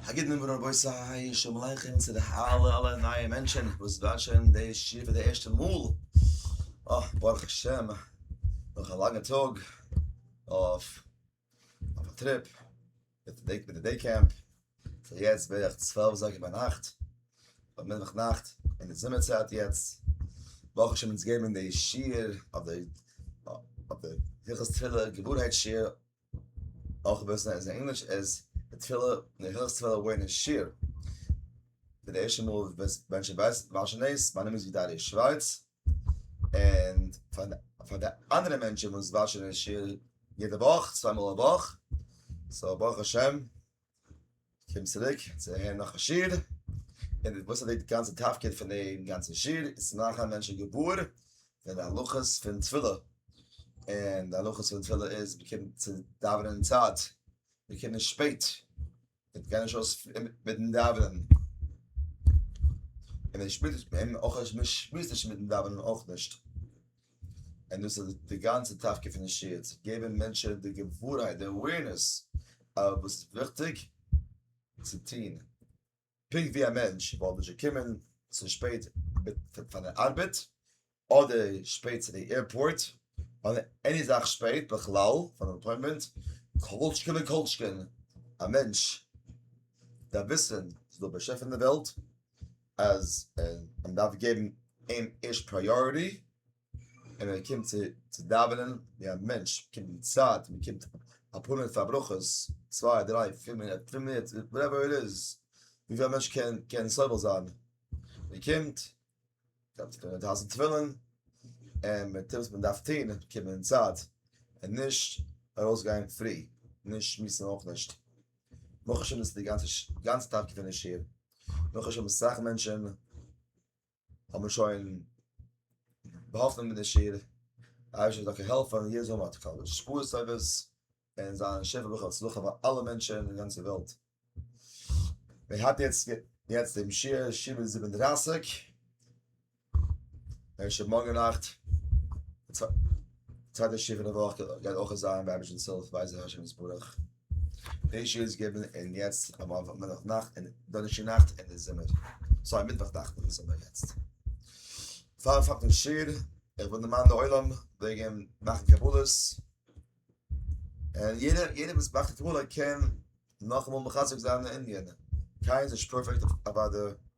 א גוט נאמען רבותי, שלום עליכם צו די אלע אלע נייע מענטשען וואס וואטשען די שיעור פאר די ערשטע מאל, אה ברוך השם נאך א לאנגע טאג אויף א טריפ מיט די דעי קעמפ, סאיז יעצט בערך צוועלף אזייגער ביינאכט אדער מיטוואך נאכט אין די זומער צייט יעצט, ברוך השם אונז געבן די שיעור אויף די הלכות תפילה געווארהייט שיעור אויך בעסער איז אין ענגליש איז די תפילה אין די הילכס תפילה ווערט נישט שיר פאר די ערשטע מאל ווען שוין ווייסט מען שוין דאס מיין נאמען איז וויטאלי שווארץ און פאר די אנדערע מענטשען וואס וואטשען די שיעור יעדע וואך צוויי מאל א וואך סאו ברוך השם. קומט צוריק צו הערן נאך א שיעור, און וואס איז די גאנצע תפקיד פון די גאנצע שיעור, איז צו מאכן מענטשן געוואר פון די הלכות פון תפילה, און די הלכות פון תפילה איז מען קומט צו דאווענען אין צייט, מען קומט נישט שפעט, מען גייט נישט אויס מיטן דאווענען, און מען שמועסט נישט מיטן דאווענען אויך נישט. און דאס איז די גאנצע תפקיד פון די שיעור, צו געבן מענטשען די געווארהייט, די אווערנעס, אויף וואס איז וויכטיג צו טון, פונקט ווי א מענטש וואלט נישט געקומען צו שפעט פאר די ארבעט, אדער שפעט צו די עירפארט, אדער עני זאך שפעט בכלל פאר אן אפוינטמענט, כל שכן וכל שכן א מענטש דארף וויסן אז ס'איז דא א באשעפער אין די וועלט, אז מען דארף געבן אים ערשט פריאריטי, און ער קומט צו דאווענען ווי א מענטש, קומט אין צייט, מען קומט אפאר מינוט פאר ברכות, צוויי דריי פיר מינוט, פינף מינוט, וואטעווער איט איז, וויפיל א מענטש קען סובל זיין, מען קומט, דארף מען אויסזעצן תפילין, און מען טוט וואס מען דארף טון, קומען אין צייט, און נישט ארויסגיין פרי, נישט שמועסן אויך נישט. ברוך השם איז די גאנצע גאנץ טאג געווען אין שול, ברוך השם אסאך מענטשען האבן שוין באהאפן מיט די שול, די אייבערשטער זאל העלפן יעדער זאל האבן א קאווע שפעה סערוויס, און זיין שפע ברכה הצלחה פאר אלע מענטשען אין די גאנצע וועלט, מען האט יעצט יעצט דעם שיעור שבע זיבן דרייסיג. איך שוין מארגן נאכט צווייטע שיעור פון די וואך גייט אויך זיין ביי רבישנס הילף בעזר השם יתברך דעי שיעור איז געווען אין יעצט אמאל מיטוואך נאכט און דאנערשטאג נאכט אין די זומער סארי מיטוואך נאכט אין די זומער יעצט פאר פאר דעם שיעור איך וויל דערמאנען די עולם וועגן מאכן קבלות און יעדער יעדער וואס מאכט א קבלה קען נאכאמאל מחזק זיין די ענין קיינער איז נישט פערפעקט אוודאי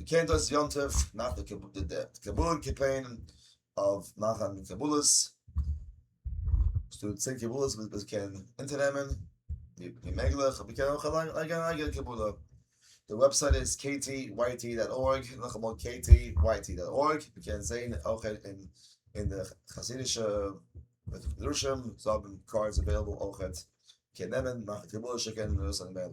מען קען דאס יום טוב נאך די קבלה קעמפעין אויף מאכן קבלות, עס איז דא צען קבלות וואס מען קען אונטערנעמען ווי מעגליך, און מען קען אויך אליין לייגן אן אייגענע קבלה, די וועבסייט איז ktyt דאט ארג, נאכאמאל ktyt דאט ארג, מען קען זען אויך אין די חסידישע בתי מדרשים, זיי האבן קארדס אוועילעבל אויכעט, מען קען נעמען מאכן קבלה שיקן און ארויס נעמען מעיל.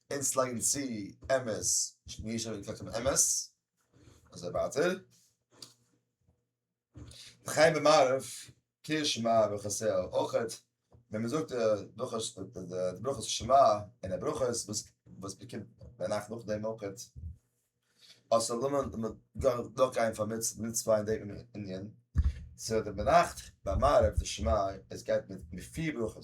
אונז לייגן צו אמת מיר שוין געקלערט און אמת אזוי ווייטער חיים במערב קריאת שמע וכסה אויכעט ווען מ'זאגט די ברכות ברכות שמע און די ברכות וואס מ'קומט ביינאכט נאכדעם אויכעט אז ס'זאל דארט זיין דורכגיין פאר מצוה אין דעם מנין ס'וועט ביינאכט ביי מערב די שמע עס גייט מיט פיר ברכות.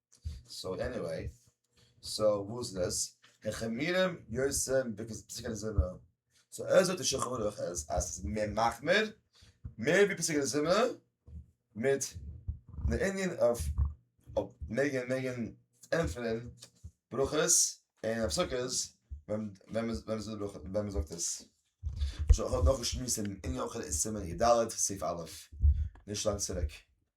סאו עניוועי, סאו וואס איז דאס? הן חמירים יוצאין בקע ז פסקי די זומער, סאו ער זאגט די שולחן ערוך אז עס איז מער מחמיר, מער ווי פסקי די זומער, מיט די ענין אויף מעגען מעגען ענטפערען ברכות און אויף סוכות ווען מען זאגט עס. שוין איך האב נאך געשמועסט אין ענין אויך אין סימן י ד סעיף א' נישט לאנג צוריק.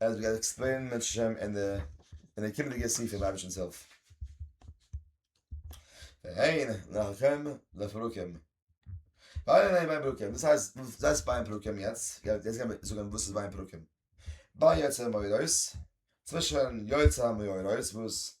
עס וועט גייט עקספלעינען מיט שם אין די אין די קומענדיגע סעיפים אייבערשטנס הילף והן לכם לפרקים ווייל אין ביי פרקים דאס הייסט זייט ביי פרקים יעצט יעצט גיימער זאגן וואס איז ביי פרקים ביי יצא מוירויס צווישן יצא מוירויס וואס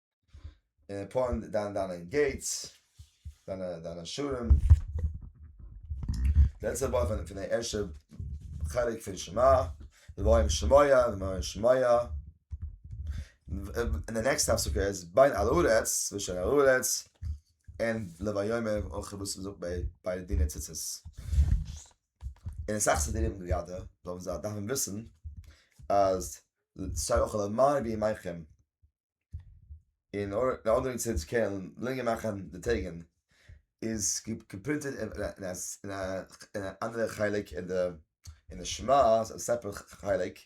און פארן דיין דיינע געיטס דיינע דיינע שערים די לעצטע ווארט פון פון די ערשטע חלק פון שמע דברים שמיא דברים שמיא און די נעקסטע הפסקה איז בין אל הארץ צווישן אל הארץ און לב היומי אויך וואס מ'זאגט ביי ביי דיני ציצית און אסאך סידורים די ידע זאלן זיי דארפן וויסן אז ס'שטייט אויך למען ירבי עמכם. און די אנדערע צד קען לענגער מאכן די טעגן איז געפרינטעד אין א אנדערע חלק אין די אין די שמו ע א ספר חלק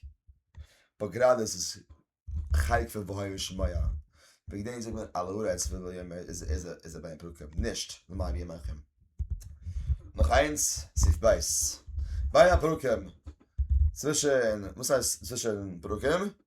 באט גראדע איז עס חלק פון והיו שמועה וועגן דעם זאגט מען על הארץ ולא יאמר איז א בין הפרקים נישט למען יהיה מכם נאך איינס סעיף ב' בין הפרקים צווישן וואס הייסט צווישן פרקים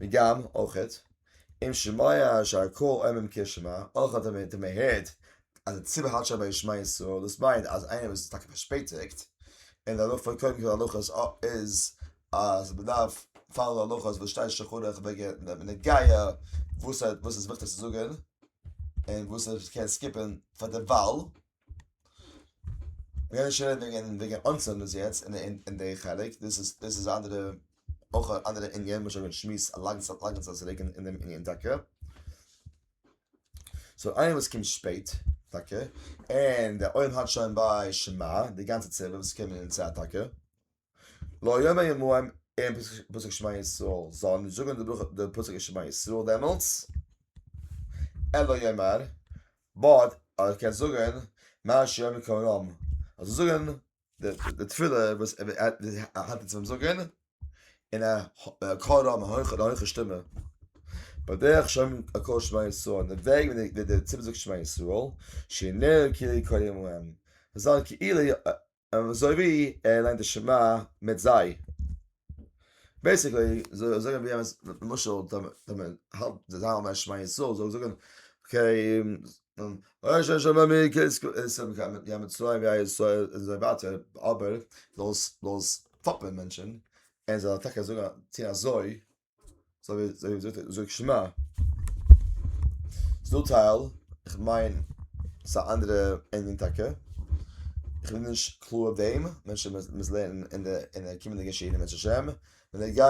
וגם אויך אויך אם שמיה שהקול עמים קה שמע אויך אויך ווען מען הערט אז די ציבור האלט שוין ביי ישמע ישראל דאס מיינט אז איינער וואס איז טאקע פארשפעטיגט און די הלכה פון קודם כל הלכות איז אז מען דארף פאלאו די הלכות וואס שטייט שולחן ערוך וועגען די נגיעה וואס איז וויכטיג צו זאגען און וואס מען קען סקיפען פאר דערווייל. מיר רעדן שוין וועגן וועגן אנצינדן עס יעצט אין די חלק, דאס איז דאס איז אנדערע אויך א אנדערע ענין וואס שוין שמועס א לאנגע צייט לאנגע צייט צוריק אין דעם ענין טאקע. סאו איינער וואס קומט שפעט טאקע און די עולם האלט שוין ביי שמע די גאנצע צוות וואס קומען אין צייט טאקע, לא יאמר ימוהם אין פסוק שמע ישראל, זאל ער נישט זאגן די ברכה די פסוק שמע ישראל דעמאלטס, אלא יאמר, באט ער קען זאגן מה שיאמר כהנם, ער זאל זאגן די תפילה וואס ער האלט אונז פון זאגן אין א קול רם א הויכע שטימע, בדרך שאומרים א קול שמע ישראל, אין די וועג ווי די ציבור זאגט שמע ישראל, שיהיה נראה כאילו יקוים להם, עס זאל זיין כאילו אזוי ווי ער ליינט די שמע מיט זיי. בעיסיקלי זאגן ווי אז למשל ווען מען האלט די זיי האלטן א שמע ישראל זאל ער זאגן אבער זאל עס פאפען מענטשן ער זאל אטאקע זאגן צו אזוי זאג זאג זאג זאג שמע. ס'דא טייל, כ'מיין ס'איז א אנדערע ענין טאקע, כ'בין נישט קלאר אויף דעם, מען וועט שוין מוזן לערנען אין די אין די קומענדיגע שיעורים בעזהשי ת, בנוגע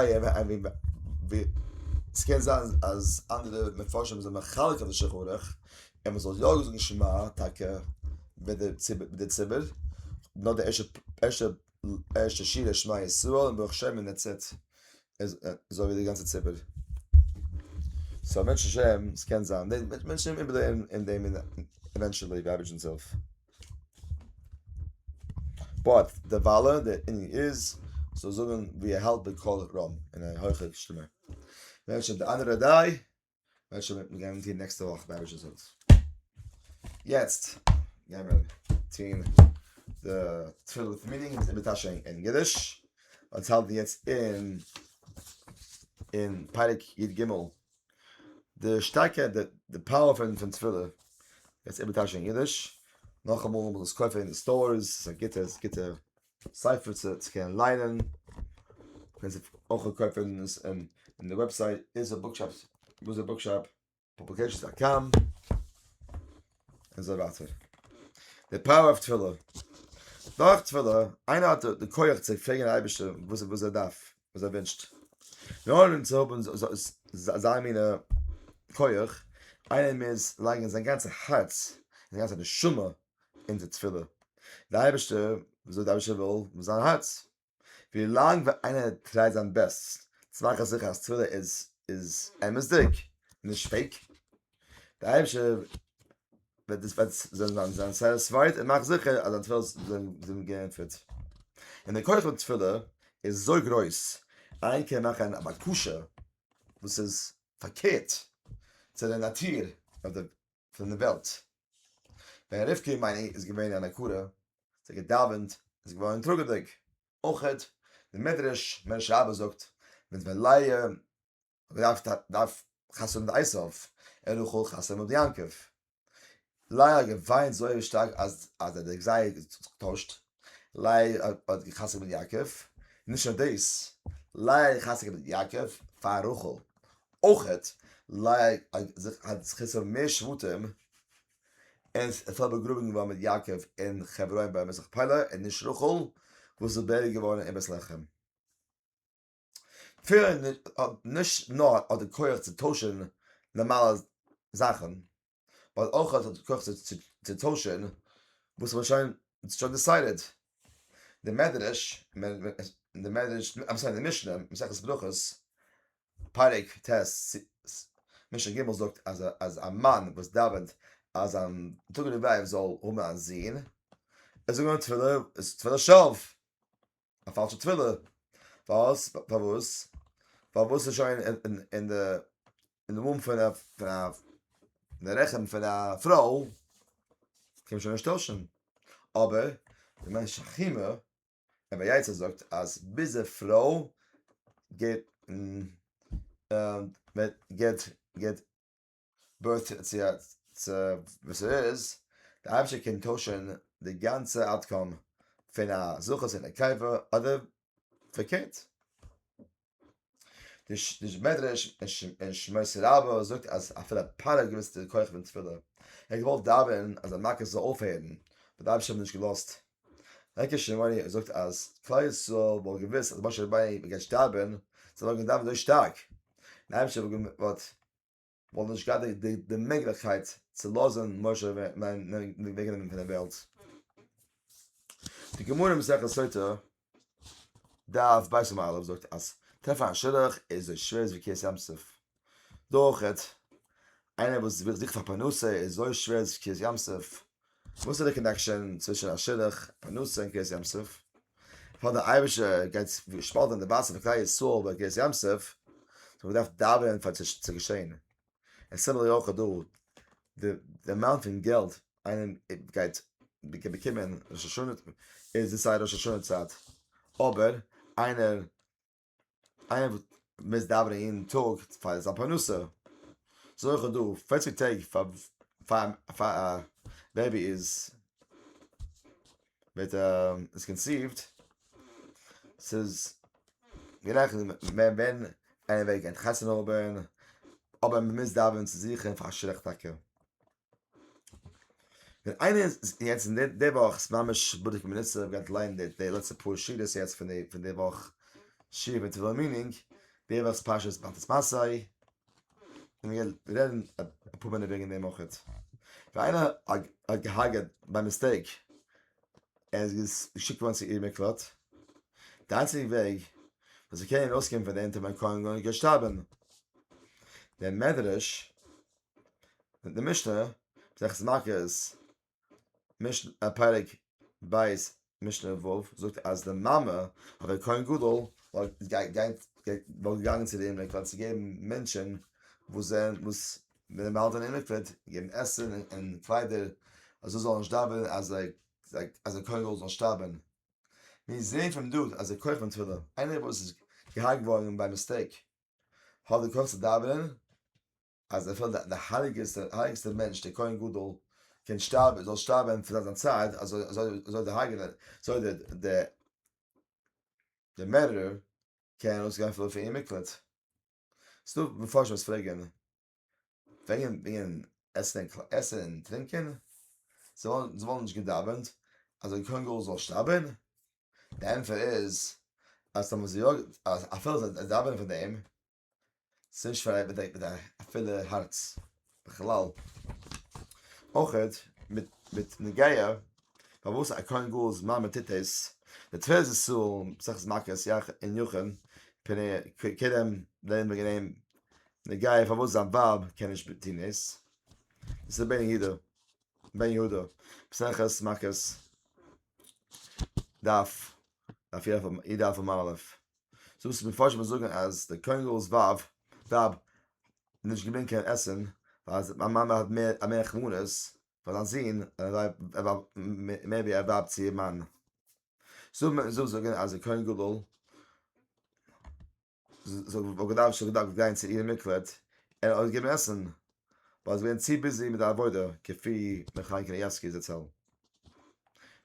ווי ס'קען זיין אז אנדערע מפרשים זענען מחלק אויף די שולחן ערוך, און מ'זאל יא זאגן שמע טאקע מיט די ציבור, נאר די ערשטע ערשטע ערשטע שירה שמע ישראל און ברוך שם און דעטס איט איז אווער די גאנצע ציבור. סא בעזהשי ת עס קען זיין די מענטשן וועלן איבערלערנען אין דעם עווענטשעלי די אייבערשטן זעלף באט דערוויילע די ענין איז זאל זאגן ווי ער האלט בקול רם אין א הויכע שטימע. וועט שוין מיט מיר געבן טון נעקסטע וואך ביי רשות זאגט יעצט גייען מיר טון די תפילה פון מיטינג איז איבער טאשע אין געדיש אונז האלטן יעצט אין אין פרק יד גימל די שטארקע די פאוער פון פון תפילה יעצט איבער טאשע אין געדיש נאך אמאל מוז עס קויפן אין די סטארס א גיטע גיטע ספר צו קענען ליינען, קען זיך אויך קויפן אין די וועבסייט איז א בוקשאפ וואס איז בוקשאפ פאבליקעישאנס דאט קאם אזוי ווייטער די פאוער אויף תפילה דורך תפילה איינער האט די כח צו פרעגן די אייבערשטער וואס וואס ער דארף וואס ער ווינטשט מיר אנהויבן צו האבן אזא מינע כח איינער מוז לייגן זיין גאנצע הארץ זיין גאנצע נשמה אונזער תפילה די אייבערשטער זאל די אייבערשטער וויל מיט זיין הארץ ווילאנג ווי איינער טרייט זיין בעסט צו מאכן זיכער אז תפילה איז איז אמת'דיג נישט פעיק די אייבערשטער וועט דאס וועט זיין זיין סעטיספייד און מאך זיכער אז דיין תפילות זענען געענטפערט און די כח פון תפילה איז אזוי גרויס איינער קען מאכן א בקשה וואס איז פארקערט צו די נאטור אדער פון די וועלט. ווען רבקה אמנו איז געווען אן עקרה, האט זי געדאווענט און זי איז געווארן טראגעדיג. אויך די מדרש מרש רבה זאגט, מיט ווען לאה האט געדארפט דארף חתונה מיט עשיו, ער האט רחל חתונה מיט יעקב. לאה האט געוויינט זויער שטארק אז אז דער דער גזירה האט זיך געטוישט, לייער האט גע'חזר'ט מיט יעקב, נישט נאר דאס, לייער האט גע'חזר'ט מיט יעקב פאר רחל, אויכעט לייער האט זיך גע'חזר'ט פאר מער שבטים, און עס איז באגראבן געווארן מיט יעקב אין חברון ביי מכפלה, און נישט רחל וואס איז בעריגט געווארן אין בית לחם. נישט נאר האט ער כח צו טוישן נארמאלע זאכן. ווייל אויך האט ער כח צו טוישן וואס ער האט שוין שוין דיסיידעד די מדרש אין די מדרש אים זענען די משנה מסכת ברכות פרק ט משנה ג' זאגט אז אז א מאן וואס דאווענט אז זיין טויגעדיגע ווייב זאל האבן א זון ער זאל זאגן תפלה תפלה שווא. א פאלשע תפילה. פארוואס? פארוואס? פארוואס איז שוין אין די אין די מום פון א פון א אין די רחם פון א פרוי קען מען שוין נישט טוישן. אבער די מענטש חימה אבער יעצער זאגט אז ביז די פרוי געט געט געט בעת צו וואס ער איז, די אייבערשטער קען טוישן די גאנצע אוטקאם פון א זכות און נקבה אדער פארקערט. די מדרש אין שמות רבה זאגט אז אפילו פרעה געוויסט די כח פון תפילה, ער האט געוואלט דאווענען אז די מכות זאל אויפהערן, אבער די אייבערשטער האט נישט געלאזט. ליקוט שמעוני זאגט אז כלל ישראל וואלט געוויסט אז משה רבינו וועט געשטארבען, זיי וואלטן געדאווענט אזוי שטארק, און די אייבערשטער וואלט. וואלט נישט געהאט די מעגליכקייט צו לאזן משה וועגנעמען פון די וועלט. די גמרא אין מסכת סוטה, דף ב' עמוד א', זאגט אז טרעפן א שידוך איז אזוי שווער ווי קריעת ים סוף. דא אויך, איינער וואס זוכט פאר פרנסה איז אזוי שווער ווי קריעת ים סוף. וואס איז די קאנעקשאן צווישן א שידוך פרנסה און קרית ים סוף? פאר די אייבערשטער גייט שפאלטען די וואסער פון כלל ישראל ביי קרית ים סוף, האט מען געדארפט דאווענען פאר עס צו געשען, און סימילערלי אויך דא, די אמאונט פון געלט איינער גייט באקומען ראש השנה איז די סיי ראש השנה צייט, אבער איינער. איינער וואס מוז דאווענען יעדן טאג פאר זיין פרנסה, זאל איך האב דא פֿערציק טעג פאר פאר פאר א בעבי איז ווערט איז קאנסיווט, ס'איז גערעכנט מער ווען איינער וועט גיין חתונה האבן, אבער מ'מוז דאווענען צו זיכער פאר שרעק טאקע. ווען איינער איז יעצט אין די וואך איז ממש בדוק בנצר איך האב געהאט ליינען די די לעצטע פאר שורות יעצט פון די פון די וואך שיר מיט וועלן מינינג די וואכ'ס פרשה איז באלטעס מעשה און מיר גייען רעדן אפאר מינוט וועגן דעם אויך ווען איינער האט געהארגעט ביי מיסטעיק ער איז געשיקט געווארן צו עיר מקלט די איינציגע וועג וואס ער קען ארויסקומען פון די אונטער מיין קארן גארנישט גייט שטארבען דער מדרש די משנה זעכטס מאכערס מישן א פרק בית משנה וואו זאגט אז די מאמע האט א כהן גדול וואלט געגאנגען וואלט געגאנגען צו די מקווה צו געבן מענטשען וואס זענען וואס וועלן באהאלטן אין די מקווה געבן עסן און קליידער אז זיי זאלן נישט דאווענען אז זיי אז די כהן גדול זאל שטארבען מיר זעהן פון דא אז די כח פון תפילה איינער וואס איז געהארגט געווארן ביי מיסטעיק האט די כח צו דאווענען. אז אפילו די הייליגסטער מענטש דער כהן גדול קען שטארבן, זאל שטארבן פאר זיין צייט, אזוי דער הרגענער, אזוי דער מערדערער קען ארויסגיין אפילו פון איר מקלט. ס'איז דא מפרשים וואס פרעגן וועגן עסן און טרינקען, זיי וואלן נישט געדאווענט אז דער כהן גדול זאל שטארבן? די ענטפער איז אז אפילו זיי דאווענען פאר דעם ס'איז נישט פאר איינעם מיט א פולע הארץ בכלל. אויך מיט נגיעה פארוואס א כהן גדול'ס מאמע טוט עס, די תפלת ישראל, מסכת מכות, יח און יחון, פר' כרם, לערנען וועגן דעם נגיעה פארוואס זיין ווייב קען נישט טון עס, דאס איז בן יהודה, בן יהודה, מסכת מכות, דף, דף יח עמוד א'. סאו וואס מפרשים וואס זאגן אז דער כהן גדול'ס ווייב האט נישט געברענגט קיין עסן ווייל זיי מיין מאמע האט מער מער רחמנות פאר זיין זון מער ווי א ווייב צו איר מאן סאו מיר זאל זאגן אז דער כהן גדול זאל וואלט געדארפט שוין געדארפט גיין צו איר מקלט און אויסגעבן עסן ווייל זיי זענען צו ביזי מיט די עבודה, כפי ר' חיים קנייבסקי זצל. דער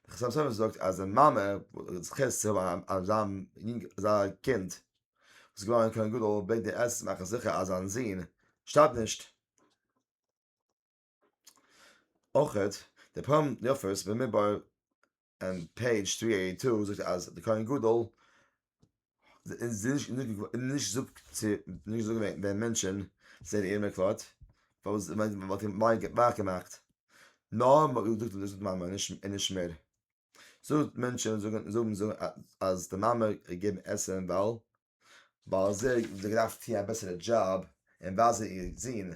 חתם סופר זאגט אז די מאמע וואס האט זכי' צו האבן אזא יונג אזא קינד וואס איז געווארן כהן גדול בעט די עזות מאכן זיכער אז זיין זון שטארבט נישט. אויך דער פר' יפת במדבר און פעידזש טרי עיטי טו זאגט אז די כהן גדול איז נישט זאגט צו נישט זאגן וועגן די מענטשען זענען איר מקלט פארוואס וואלט איר מיין ווייך געמאכט נאר מ'האט געזאגט דאס איז מאמע און נישט מיר זאגט מענטשען זאגן אז די מאמע געבן עסען ווייל ווייל זיי האבן געדארפט טון א בעסערע דזשאב און ווייזן איר זון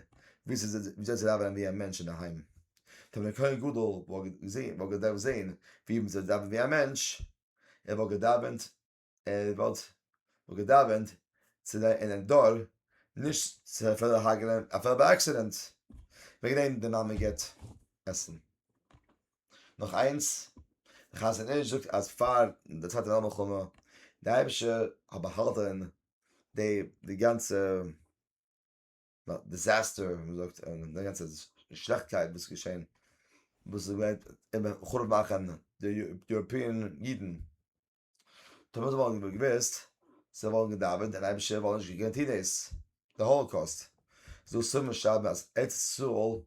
וויאזוי צו דאווענען ווי א מענטש אינדערהיים. טא ווען דער כהן גדול וואלט געדארפט זען ווי מען זאל דאווענען ווי א מענטש, ער וואלט געדאווענט, ער וואלט געדאווענט צו זיין אינעם דור, נישט צו אפילו הרג'נען אפילו ביי עקסידענט. וועגן דעם די מאמע געבט עסן. נאך איינס, דער חזון איש זאגט אז פאר די צווייטע וועלט מלחמה די אייבישטער האט באהאלטען די די גאנצע דיזעסטער ווי מ'זאגט און די גאנצע שלעכטקייט וואס איז געשען וואס איז געווען חרוב מאכען די יוראפיען אידן. טאמער זיי וואלטן געוואלט געוואוסט, זיי וואלטן געדאווענט און אייבישטער וואלט נישט געקענט טון דאס. די האלאקאוסט. זאגט סומער שרייבן אז ארץ ישראל,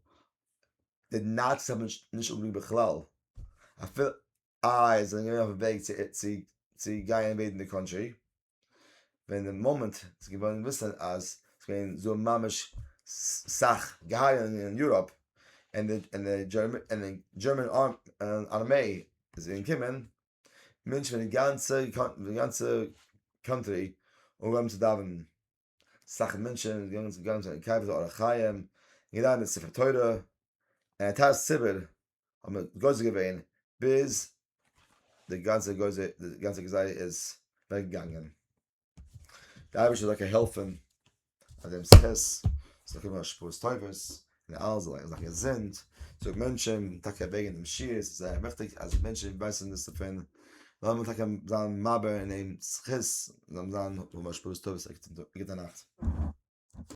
די נאציס האבן נישט אפגעריקט בכלל, אפילו איי זיי זענען געווען אויפן וועג צו גיין אינוועידן די קאנטרי, ווען די מאמענט איז געווארן געוויסן אז ס'איז געווען דא ממש סאך געהייערונגען אין יוראפ, און די דזשערמען ארמעי איז געקומען, מענטשן פון די גאנצע קאנטרי אנגעהויבן צו דאווענען, אסאך מענטשן זענען געגאנגען צו קיין קבר אור החיים און געלייענט די ספר תורה, און א טייל ציבור האבן גוזר געווען ביז די גאנצע גזירה איז אוועקגעגאנגען. די אייבערשטער זאל דוקא העלפען אז דעם זכות זאל קומען השפעות טובות און אלעס זאל זיין געזונט זאג מענטשען טאקע וועגען דעם שיעור עס איז זייער וויכטיג אז מענטשען ווייסען דאס דערפון לאמיר טאקע זיין מעביר אין אים זכות זאל זיין און השפעות טובות א גוטע נאכט.